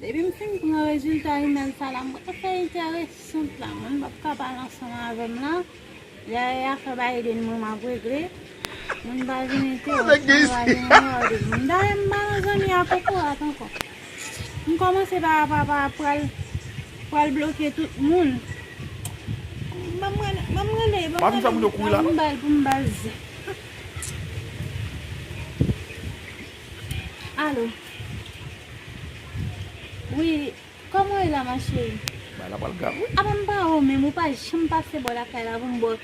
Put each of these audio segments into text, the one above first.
Depi m fin pran rezilta imèl sa la m wè afè entèresant la moun pap ka pale ansanm avè m la lè e afè Biden mwen m ap regle moun pa vin entewòp mwen pa vin enmède m moun dayè m pa nan zanmi a kokorat ankò m kòmanse pa pa pral pral bloke tout moun banm rele banm rele banm rele banm bal pou m bal zi. Allo Wi Koman ou ye la ma chérie Bagay la pral grav wi Apa m pa wè w menm ou pa janm pase bò lakay la pou m ba w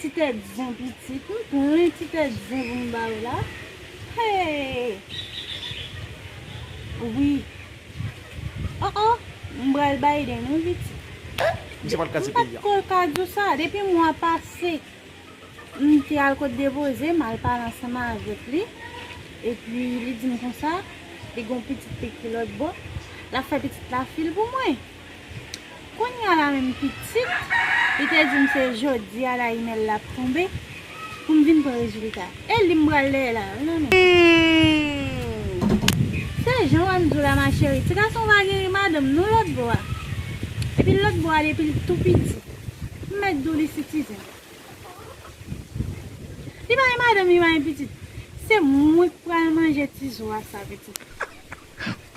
ti tèt zen pitit m plen ti tèt zen pou m ba w la Heyy Wi Oh oh m pral Biden wi pitit Eeh misye pat ka di peyi a M pat ko ka di w sa depi mwa pase M te al kot Devoze, m al pale ansanm avèk li, epi li di m konsa, li gen yon pitit li ki lòtbò, l ap fè pitit la fi l pou mwen. Kounya la menm pitit, li te di m se jodi a la imèl la ap tonbe, pou m vin pran rezilta. E li m pral dèyè la a, nan menm. Humm! Se jan w ann di w la ma cheri, ti gason va geri madanm non lòtbò a. Epi lòtbò a depi l tou piti. M mèt di w li sitizen. Li pa gen madanm li pa gen pitit se mwen ki pral manje ti zo a sa pitit.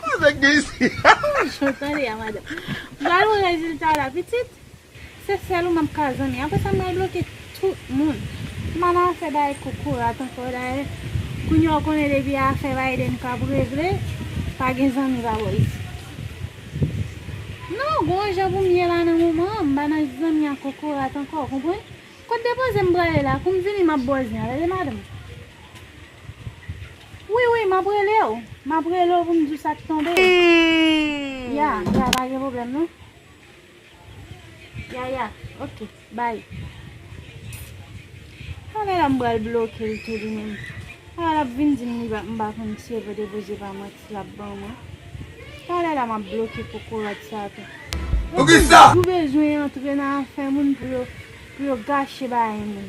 Koze k gen isi. Bon jan tande a madanm. M pral wè rezilta la pitit se sèl ou map ka zanmi aprè sa m pral bloke tout moun. M pa nan afè bay kokorat ankò dayè kounya ou konnen depi afè Biden kap regle pa gen zanmi pa bò isit. Non, g'on yon jan pou m ye la nan moman an, m pa nan zanmi ak kokorat ankò, ou konprann? Kot depoze m prale la? Kou m vini m ap ba w zen an, rele madanm. Wi, wi, m ap rele w, m ap rele w pou m di w sa k tonbe. Ya, ya, pa gen pwoblèm non. Yaya ok bye. An lè la m pral bloke l tou li menm. An lap vin di m li pa m pa konn si e pote poze pa mwen ti lap ban mwen. An lè la map bloke kokorat sa tou. Poukisa? Yo toujou bezwen antre nan afè moun pou yo gache bagay moun.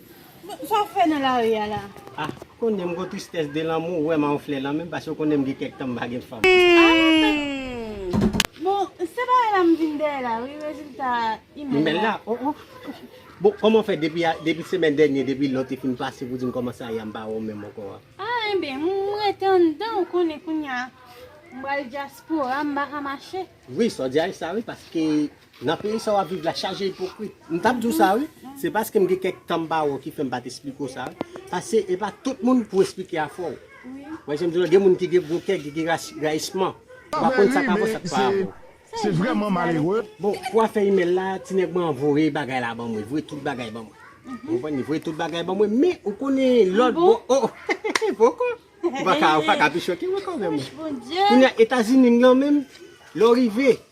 Sa wap fè nan lari a la? Ah kounye m gon tristès de lanmou ou wèm a yon flè lan menm paske ou konnen m gen kèk tan m pa gen fanm. Bon se pa e la m vin dèyè la wi rezilta imèl la. Oh oh Bon kòman w fè depi semèn dènye depi lè w te fin pase pou di m kòman sa ye a m pa wè w menm ankò a? Ah enben m rete anndan ou konnen kounye a m pral dyaspora m pa ka mache. Wi sa w di a e sa wi paske Nan peyi sa wap viv la chaje ipokrit. M tap di w sa wi, se paske m gen kèk tan m pa wè w ki fè m pa t esplike w sa. Pase e pa tout moun pou w esplike afè w. Ou wè jan m di w la, gen moun ki gen gwo kè, ki gen rayisman. Ou pa konn sa k avè w, sa k pa avè w. Se vrèman malere. Bon, pou afè imèl la, ti nèg mwen an voye bagay la ban mwen, voye tout bagay ban mwen. Ou konprann? Li voye tout bagay ban mwen, men ou konnen lòt bò. O! Poko! Ou pa ka pi choke m ankò, mè mwen. Kounye a, Etazini m nan menm, lè w rive.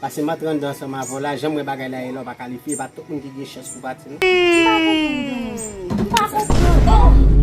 Pase m'en 32 ans anm avèw la janm wè bagay la ye lè w pa kalifye e pa tout moun ki gen chans pou pati non. M pa konprann games. M pa konprann.